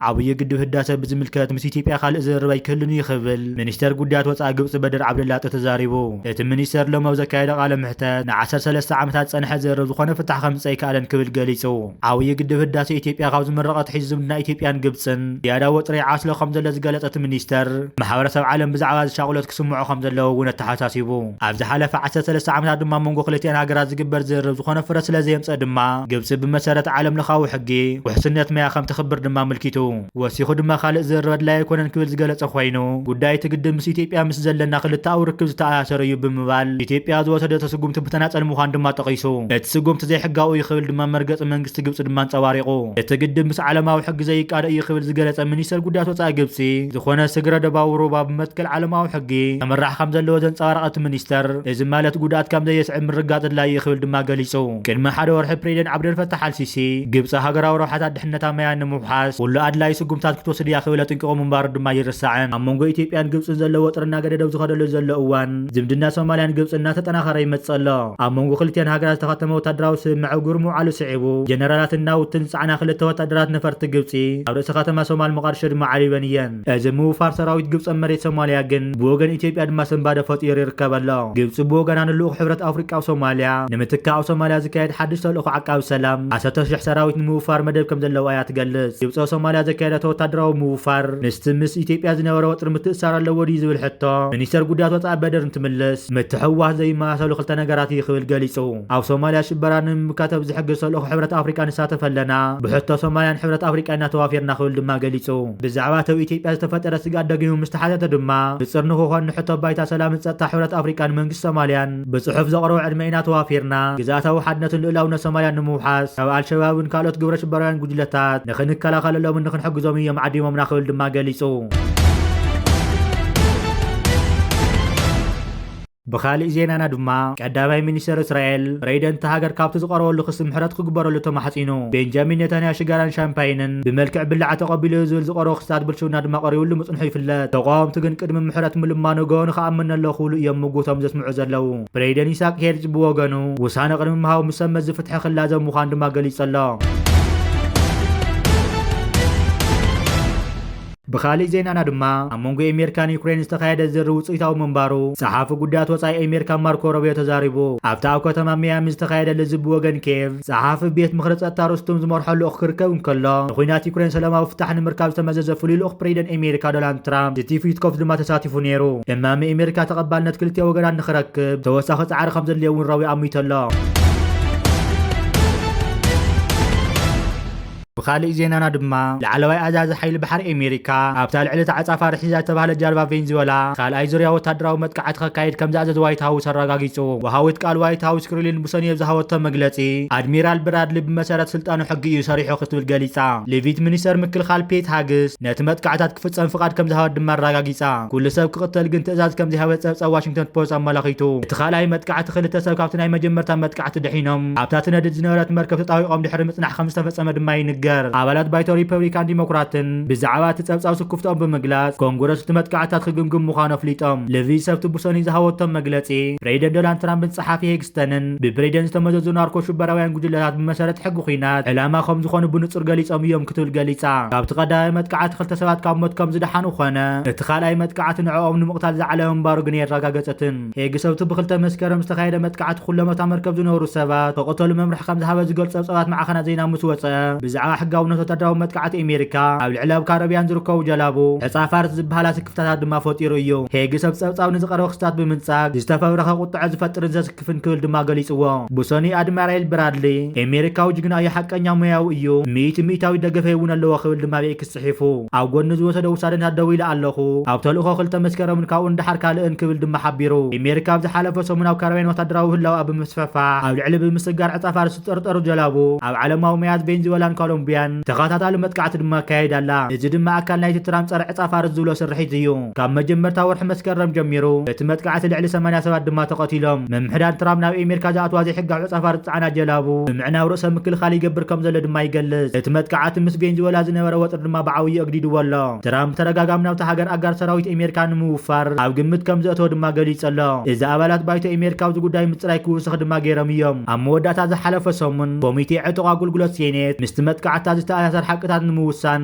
ዓብዪ ግድብ ህዳሰ ብዝምልከት ምስ ኢትዮጵያ ካልእ ዝርርብ ኣይክህልን እዩ ክብል ሚኒስተር ጉዳያት ወፃኢ ግብፂ በድር ዓብደላጢ ተዛሪቡ እቲ ሚኒስተር ሎም ኣብ ዘካየደ ቃለ ምሕተት ን13 ዓመታት ዝፀንሐ ዝርርብ ዝኾነ ፍታሕ ከምፅእ ኣይከኣለን ክብል ገሊፁ ዓብዪ ግድብ ህዳሴ ኢትዮጵያ ካብ ዝምረቕ ኣትሒዙ ዝምድና ኢትዮጵያን ግብፅን ዝያዳ ወጥሪ ይዓስሎ ከምዘሎ ዝገለፀ እቲ ሚኒስትር፣ ማሕበረሰብ ዓለም ብዛዕባ እዚ ሻቕሎት ክስምዖ ከምዘለዎ እውን ኣተሓሳሲቡ። ኣብ ዝሓለፈ ዓሰርተ ሰለስተ ዓመታት ድማ ኣብ መንጎ ክልቲኣን ሃገራት ዝግበር ዝርርብ ዝኾነ ፍረ ስለዘየምፀእ ድማ ግብፂ ብመሰረት ዓለምለኻዊ ሕጊ ውሕስነት ማያ ከምተኽብር ድማ ኣመልኪቱ። ወሲኹ ድማ ካልእ ዝርርብ ኣድላይ ኣይኮነን ክብል ዝገለጸ ኮይኑ፣ ጉዳይ እቲ ግድብ ምስ ኢትዮጵያ ምስ ዘለና ክልተኣዊ ርክብ ዝተኣሳሰረ እዩ ብምባል፣ ኢትዮጵያ ዝወሰደቶ ስጉምቲ ብተናጸል ምዃኑ ድማ ጠቒሱ። እቲ ስጉምቲ ዘይሕጋዊ እዩ ክብል ድማ መርገጺ መንግስቲ ግብጺ ድማ ኣንጸባሪቑ። እቲ ግድብ ምስ ዓለማዊ ሕጊ ዘይቃዶ እዩ ክብል ዝገለጸ ሚኒስተር ጉዳያት ወጻኢ ግብጺ፣ ዝኾነ ስግረ ዶባዊ ሩባ ብመትከል ዓለማዊ ሕጊ ከምራሕ ከምዘለዎ ዘንጸባረቐ እቲ ሚኒስተር፣ እዚ ማለት ጉድኣት ከምዘየስዕብ ምርግጋጽ ኣድላይ እዩ ክብል ድማ ገሊጹ። ቅድሚ ሓደ ወርሒ ፕሬዚደንት ዓብደልፈታሕ ኣልሲሲ፣ ግብጺ ሃገራዊ ረብሓታት ነታ ማያ ንምውሓስ ኩሉ ኣድላዪ ስጉምትታት ክትወስድ እያ ክብል ኣጥንቂቑ ምንባሩ ድማ ኣይርሳዕን። ኣብ መንጎ ኢትዮጵያን ግብጽን ዘሎ ወጥሪ እናገደደ ኣብ ዝኸደሉ ዘሎ እዋን፣ ዝምድና ሶማልያን ግብጽን እናተጠናኸረ ይመጽእ ኣሎ። ኣብ መንጎ ክልቲኣን ሃገራት ዝተኸተመ ወታደራዊ ስምምዕ እግሩ ምውዓሉ ስዒቡ፣ ጀነራላትን ናውትን ዝጸዓና ክልተ ወታደራት ነፈርቲ ግብጺ፣ ኣብ ርእሲ ከተማ ሶማል ሞቓድሾ ድማ ዓሪበን እየን። እዚ ምውፋር ሰራዊት ግብፂ ኣብ መሬት ሶማሊያ ግን ብወገን ኢትዮጵያ ድማ ስንባደ ፈጢሩ ይርከብ ኣሎ። ግብፂ ብወገና ንልኡኽ ሕብረት ኣፍሪቃ ኣብ ሶማሊያ ንምትካእ ኣብ ሶማሊያ ዝካየድ ሓድሽ ተልእኾ ዓቃቢ ሰላም ዓሰርተ ሽሕ ሰራዊት ንምውፋር መደብ ከምዘለዋ እያ ትገልፅ። ግብፂ ኣብ ሶማሊያ ዘካየደቶ ወታደራዊ ምውፋር ምስቲ ምስ ኢትዮጵያ ዝነበረ ወጥሪ ምትእስሳር ኣለዎ ድዩ ዝብል ሕቶ ሚኒስተር ጉዳያት ወፃኢ በድር እንትምልስ ምትሕውዋስ ዘይመሳሰሉ ክልተ ነገራት እዩ ክብል ገሊፁ። ኣብ ሶማሊያ ሽበራ ንምምካት ኣብ ዝሕግዝ ተልእኾ ሕብረት ኣፍሪቃ ንሳተፍ ኣለና፣ ብሕቶ ሶማሊያን ሕብረት ኣፍሪቃ ኢና ተዋፊርና ክብል ድማ ገሊፁ። ብዛዕባ እቲ ኣብ ኢትዮጵያ ዝተፈጠረ ስግኣት ደጊሙ ምስ ተሓተተ ድማ፣ ንጽር ንክኾን ንሕቶ ባይታ ሰላምን ጸጥታ ሕብረት ኣፍሪቃን መንግስቲ ሶማልያን ብጽሑፍ ዘቕረቦ ዕድመ ኢና ተዋፊርና፣ ግዝኣታዊ ሓድነትን ልኡላውነት ሶማልያን ንምውሓስ፣ ካብ ኣልሸባብን ካልኦት ግብረሽበራውያን ጉጅለታት ንክንከላኸለሎምን ንክንሕግዞምን እዮም ዓዲሞምና ክብል ድማ ገሊጹ። ብኻሊእ ዜናና ድማ ቀዳማይ ሚኒስተር እስራኤል ፕሬይደንት ሃገር ካብቲ ዝቐረበሉ ክሲ ምሕረት ክግበረሉ ተማሕጺኑ። ቤንጃሚን ኔታንያ ሽጋራን ሻምፓይንን ብመልክዕ ብላዕ ተቐቢሉዮ ዝብል ዝቐረቡ ክስታት ብልሽውና ድማ ቀሪብሉ ምጽንሑ ይፍለጥ። ተቓወምቲ ግን ቅድሚ ምሕረት ምልማኑ ገበኑ ክኣምን'ሎ ክብሉ እዮም ምጉቶም ዘስምዑ ዘለዉ። ፕሬይደን ኢሳቅ ሄርዝ ብወገኑ ውሳነ ቅድሚ ምሃቡ ምስ ሰብ መዚ ፍትሒ ክላዘብ ምዃኑ ድማ ገሊጹ'ሎ። ብኻሊእ ዜናና ድማ ኣብ መንጎ ኤሜርካን ዩክሬን ዝተኻየደ ዝርርብ ውጽኢታዊ ምንባሩ ጸሓፊ ጉዳያት ወጻኢ ኤሜርካ ማርኮ ሮብዮ ተዛሪቡ። ኣብቲ ኣብ ከተማ መያሚ ዝተኻየደ ልዝብ ብወገን ኬቭ ጸሓፊ ቤት ምኽሪ ጸጥታ ሩስቱም ዝመርሖ ልኡኽ ክርከብ እንከሎ ንኩናት ዩክሬን ሰለማዊ ፍታሕ ንምርካብ ዝተመዘዘ ፍሉይ ልኡኽ ፕሬዚደን ኤሜርካ ዶላንድ ትራምፕ ስቲቭ ዊትኮፍ ድማ ተሳቲፉ ነይሩ። እማመ ኤሜርካ ተቐባልነት ክልቲኦ ወገናት ንክረክብ ተወሳኺ ጻዕሪ ከምዘድልዮ እውን ሮብዮ ኣሚቱ ኣሎ። ብኻሊእ ዜናና ድማ ላዕለዋይ ኣዛዚ ሓይሊ ባሕሪ ኤሜሪካ ኣብታ ልዕሊ እታ ዕጻፋ ርሒዛ ዝተባህለት ጃልባ ቬንዝወላ ካልኣይ ዙርያ ወታደራዊ መጥቃዕቲ ከካይድ ከምዝኣዘዘ ዋይት ሃውስ ኣራጋጊጹ። ወሃዊት ቃል ዋይት ሃውስ ክሪሊን ብሰኑይ ኣብ ዝሃበቶ መግለጺ ኣድሚራል ብራድሊ ብመሰረት ስልጣኑ ሕጊ እዩ ሰሪሑ ክትብል ገሊጻ። ሊቪት ሚኒስተር ምክልኻል ፔት ሃግስ ነቲ መጥቃዕታት ክፍጸም ፍቓድ ከምዝሃበት ድማ ኣራጋጊጻ። ኩሉ ሰብ ክቕተል ግን ትእዛዝ ከምዘይሃበት ጸብጻብ ዋሽንግተን ፖስት ኣመላኺቱ። እቲ ካልኣይ መጥቃዕቲ ክልተ ሰብ ካብቲ ናይ መጀመርታ መጥቃዕቲ ኣቲ ድሒኖም ኣብታ ትነድድ ዝነበረት መርከብ ተጣዊቖም ድሕሪ ምጽናሕ ከም ዝተፈጸመ ድማ ይንገር። ኣባላት ባይቶ ሪፐብሊካን ዲሞክራትን ብዛዕባ እቲ ጸብጻብ ስኩፍትኦም ብምግላጽ ኮንግረስ እቲ መጥቃዕትታት ክግምግም ምዃኑ ኣፍሊጦም። ልቪ ሰብቲ ብሰኑይ ዝሃበቶም መግለጺ ፕሬዚደንት ዶናልድ ትራምፕን ጸሓፊ ሄግስተንን ብፕሬዚደንት ዝተመዘዙ ናርኮ ሽበራውያን ጉጅለታት ብመሰረት ሕጊ ኲናት ዕላማ ከም ዝኾኑ ብንጹር ገሊጾም እዮም ክትብል ገሊጻ። ካብቲ ቀዳማይ መጥቃዕቲ ክልተ ሰባት ካብ ሞት ከም ዝደሓኑ ኾነ እቲ ካልኣይ መጥቃዕቲ ንዕኦም ንምቕታል ዝዓለመ ምንባሩ ግን ኣየረጋገጸትን። ሄግ ሰብቲ ብ ክልተ መስከረም ዝተኻየደ መጥቃዕቲ ኩሎም ኣብታ መርከብ ዝነበሩ ሰባት ክቕተሉ መምርሒ ከም ዝሃበ ዝገልጹ ጸብጻባት ማዕኸናት ዜና ምስ ወጸ ብዛዕባ ሕጋውነት ወተሃደራዊ መጥቃዕቲ ኤሜሪካ ኣብ ልዕሊ ኣብ ካረብያን ዝርከቡ ጀላቡ ተጻፋርት ዝበሃላ ስክፍታታት ድማ ፈጢሩ እዩ። ሄግ ሰብ ጸብጻብ ንዝቐረበ ክስታት ብምንጻግ ዝተፈብረኸ ቁጥዐ ዝፈጥርን ዘስክፍን ክብል ድማ ገሊጽዎ። ብሰኑይ ኣድማራይል ብራድሊ ኤሜሪካዊ ጅግና እዩ ሓቀኛ ሞያዊ እዩ ሚእቲ ሚእታዊት ደገፈይ እውን ኣለዎ ክብል ድማ ኣብ ኤክስ ጽሒፉ። ኣብ ጎኒ ዝወሰዶ ውሳደንታት ደው ኢለ ኣለኹ፣ ኣብ ተልእኾ ክልተ መስከረምን ካብኡ ንደሓር ካልእን ክብል ድማ ሓቢሩ። ኢሜሪካ ኣብ ዝሓለፈ ሰሙን ኣብ ካረብያን ወታደራዊ ህላወኣ ብምስፈፋሕ ኣብ ልዕሊ ብምስጋር ዕጸ ፋርስ ዝጥርጠሩ ጀላቡ ኣብ ዓለማዊ መያት ቬንዚወላን ኮሎምብያን ተኸታታሊ መጥቃዕቲ ድማ ኣካይዳ ኣላ። እዚ ድማ ኣካል ናይቲ ትራምፕ ጸረ ዕጸ ፋርስ ዝብሎ ስርሒት እዩ። ካብ መጀመርታ ወርሒ መስከረም ጀሚሩ በቲ መጥቃዕቲ ልዕሊ ሰማንያ ሰባት ድማ ተቐቲሎም። ምምሕዳር ትራምፕ ናብ ኤሜሪካ ዝኣትዋ ዘይሕጋዊ ዕጸፋርስ ዝጸዓና ጀላቡ ብምዕናው ርእሰ ምክልኻል ይገብር ከም ዘሎ ድማ ይገልጽ። እቲ መጥቃዓቲ ምስ ቬንዝወላ ዝነበረ ወጥሪ ድማ ብዓውዩ ኣግዲድዎ ኣሎ። ትራምፕ ብተደጋጋሚ ናብታ ሃገር ኣጋር ሰራዊት ኤሜሪካ ንምውፋር ኣብ ግምት ከም ዘእተወ ድማ ገሊጹ ኣሎ። እዚ ኣባላት ባይቶ ኤሜሪካ ኣብዚ ጉዳይ ምጽራይ ክውስኽ ድማ ገይሮም እዮም። ኣብ መወዳእታ ዝሓለፈ ሰሙን ኮሚቴ ዕጡቕ ኣጉልጉሎት ሴኔት ምስቲ መጥቃዕትታት ዝተኣሳሰር ሓቅታት ንምውሳን፣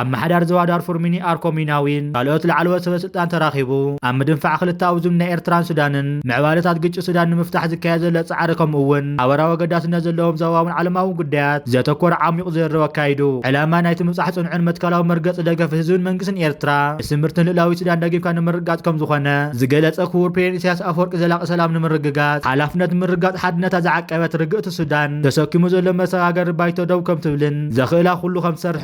ኣመሓዳሪ ዞባ ዳርፉር ሚኒ ኣርኮ ሚናዊን ካልኦት ላዕለዎት ሰበስልጣን ተራኺቡ ኣብ ምድንፋዕ ክልተኣዊ ዝምድና ኤርትራን ሱዳንን ምዕባለታት ግጭት ሱዳን ንምፍታሕ ዝካየድ ዘሎ ጻዕሪ ከምኡ'ውን ሓበራዊ ኣገዳስነት ዘለዎም ዞባውን ዓለማውን ጉዳያት ዘተኮረ ዓሚቝ ዝርርብ ኣካይዱ። ዕላማ ናይቲ ምብጻሕ ጽኑዕን መትከላዊ መርገጺ ደገፍ ህዝብን መንግስትን ኤርትራ ንስምርትን ልእላዊት ሱዳን ደጊፍካ ንምርግጋጽ ከምዝኾነ ዝገለጸ ክቡር ፕሬዚደንት ኢሳያስ ኣፈወርቂ ዘላቒ ሰላም ንምርግጋጽ ሓላፍነት ምርግጋጽ ሓድነታ ዝዓቀበት ርግእቲ ሱዳን ተሰኪሙ ዘሎ መሰጋገሪ ባይቶ ደው ከምትብልን ዘኽእላ ኩሉ ከምትሰርሕን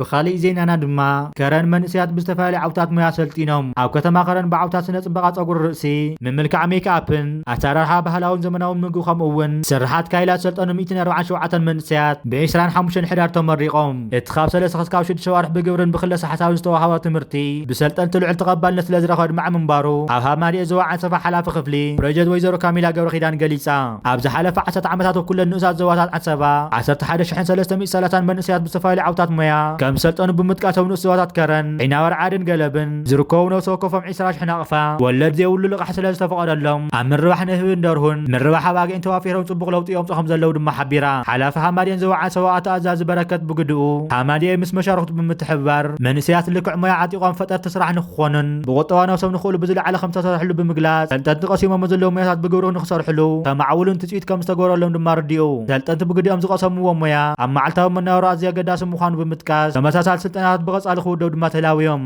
ብኻሊእ ዜናና ድማ ከረን መንእሰያት ብዝተፈላለዩ ዓውታት ሞያ ሰልጢኖም ኣብ ከተማ ከረን ብዓውታ ስነ ፅባቐ ፀጉሪ ርእሲ፣ ምምልካዕ ሜክኣፕን፣ ኣሰራርሓ ባህላውን ዘመናውን ምግቢ ከምኡ እውን ስርሓት ካይላ ዝሰልጠኑ ሚእትን ኣርብዓን ሸውዓተን መንእሰያት ብ ዕስራን ሓሙሽተን ሕዳር ተመሪቖም። እቲ ካብ ሰለስተ ክስካብ ሽዱሽተ ኣዋርሕ ብግብርን ብክለሳ ሓሳብን ዝተወሃቦ ትምህርቲ ብሰልጠንቲ ልዑል ተቐባልነት ስለዝረኸበ ኣድማዒ ምንባሩ ኣብ ሃማደኤ ዞባ ዓንሰባ ሓላፊ ክፍሊ ፕሮጀት ወይዘሮ ካሚላ ገብረኪዳን ገሊፃ። ኣብ ዝሓለፈ ዓሰርተ ዓመታት ኣብ ኩለን ንኡሳት ዞባታት ዓሰባ ዓሰርተ ሓደ ሽሕን ሰለስተ ሚእቲ ሰላሳን መንእሰያት ብዝተፈላለዩ ዓውታት ሞያ ከም ዝሰልጠኑ ብምጥቃስ ኣብ ንኡስ ዞባታት ከረን፣ ዒናባርዓድን ገለብን ዝርከቡ ነብሲ ወከፎም ዕስራ ሽሕ ናቕፋ ወለድ ዘይብሉ ልቓሕ ስለ ዝተፈቐደሎም ኣብ ምርባሕ ንህብን ደርሁን፣ ምርባሕ ኣባጊዕን ተዋፊሮም ጽቡቕ ለውጢ የምጽኡ ከም ዘለዉ ድማ ሓቢራ። ሓላፊ ሃማድኤን ዞባ ዓሰባ ኣቶ ኣዛዚ በረከት ብግድኡ፣ ሃማድኤ ምስ መሻርኽቱ ብምትሕብባር መንእሰያት ልክዕ ሞያ ዓጢቖም ፈጠርቲ ስራሕ ንክኾኑን ብቑጠባ ነብሶም ንክእሉ ብዝለዓለ ከም ዝተሰርሐሉ ብምግላጽ ሰልጠንቲ ቀሲሞሞ ዘለዉ ሞያታት ብግብሪ ክሰርሕሉ ከማዕብሉን ትፅቢት ከም ዝተገበረሎም ድማ ኣረዲኡ። ሰልጠንቲ ብግዲኦም ዝቐሰምዎ ሞያ ኣብ መዓልታዊ መነባብሮ ኣዝዩ ኣገዳሲ ምዃኑ ብምጥቃስ ተመሳሳሊ ስልጠናታት ብቐፃሊ ክውደብ ድማ ተላብዮም።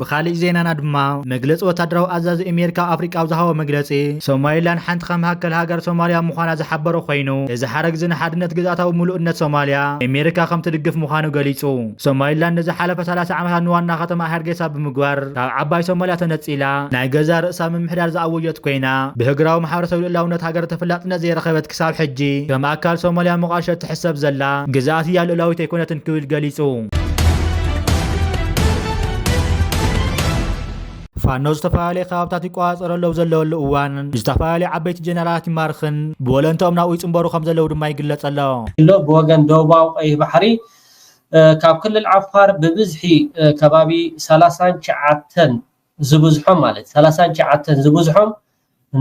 ብኻሊእ ዜናና ድማ መግለፂ ወታደራዊ ኣዛዚ ኣሜሪካ ኣፍሪቃ ኣብ ዝሃቦ መግለፂ ሶማሊላንድ ሓንቲ ካብ መካከል ሃገር ሶማሊያ ምዃና ዝሓበረ ኮይኑ እዚ ሓረግ እዚ ንሓድነት ግዝኣታዊ ምሉእነት ሶማሊያ ኣሜሪካ ከምትድግፍ ምዃኑ ገሊፁ። ሶማሊላንድ ንዝሓለፈ ሰላሳ ዓመታት ንዋና ከተማኣ ሀርጌሳ ብምግባር ካብ ዓባይ ሶማሊያ ተነጺላ ናይ ገዛእ ርእሳ ምምሕዳር ዝኣወጀት ኮይና፣ ብህግራዊ ማሕበረሰብ ልኡላውነት ሃገር ተፈላጥነት ዘይረኸበት ክሳብ ሕጂ ከም ኣካል ሶማሊያ ሞቓድሾ እትሕሰብ ዘላ ግዝኣት እያ ልኡላዊት ኣይኮነትን ክብል ገሊጹ። ፋኖ ዝተፈላለየ ከባብታት ይቆፃፀሮ ኣለዉ ዘለወሉ እዋን ዝተፈላለዩ ዓበይቲ ጀነራላት ይማርኽን ብወለንተኦም ናብኡ ይፅምበሩ ከም ዘለዉ ድማ ይግለፅ ኣሎ ብወገን ደቡባዊ ቀይሕ ባሕሪ ካብ ክልል ዓፋር ብብዝሒ ከባቢ ሰላሳን ትሽዓተን ዝብዝሖም ማለት ሰላሳን ትሽዓተን ዝብዝሖም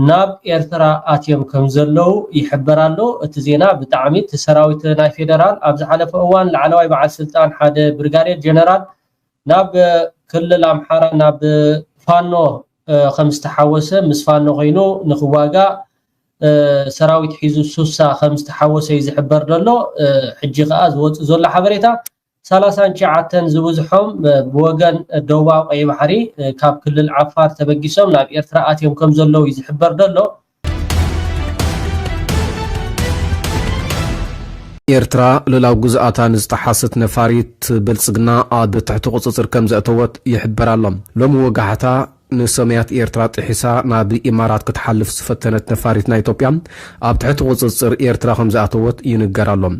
ናብ ኤርትራ ኣትዮም ከም ዘለዉ ይሕበር ኣሎ እቲ ዜና ብጣዕሚ እቲ ሰራዊት ናይ ፌደራል ኣብ ዝሓለፈ እዋን ላዕለዋይ በዓል ስልጣን ሓደ ብርጋዴር ጀነራል ናብ ክልል ኣምሓራ ናብ ፋኖ ከም ዝተሓወሰ ምስ ፋኖ ኮይኑ ንክዋጋእ ሰራዊት ሒዙ ሱሳ ከምዝተሓወሰዩ ዝሕበር ዘሎ ሕጂ ከኣ ዝወጽእ ዘሎ ሓበሬታ ሰላሳን ትሽዓተን ዝብዝሖም ብወገን ደቡባዊ ቀይ ባሕሪ ካብ ክልል ዓፋር ተበጊሶም ናብ ኤርትራ ኣትዮም ከም ዘለዉ እዩ ዝሕበር ዘሎ ኤርትራ ልላው ግዝኣታ ንዝጠሓስት ነፋሪት ብልጽግና ኣብ ትሕቲ ቁጽጽር ከም ዘእተወት ይሕበር ኣሎ ሎሚ ወጋሕታ ንሰማያት ኤርትራ ጥሒሳ ናብ ኢማራት ክትሓልፍ ዝፈተነት ነፋሪት ናይ ኢትዮጵያ፣ ኣብ ትሕቲ ቁጽጽር ኤርትራ ከምዝኣተወት ይንገር ኣሎ።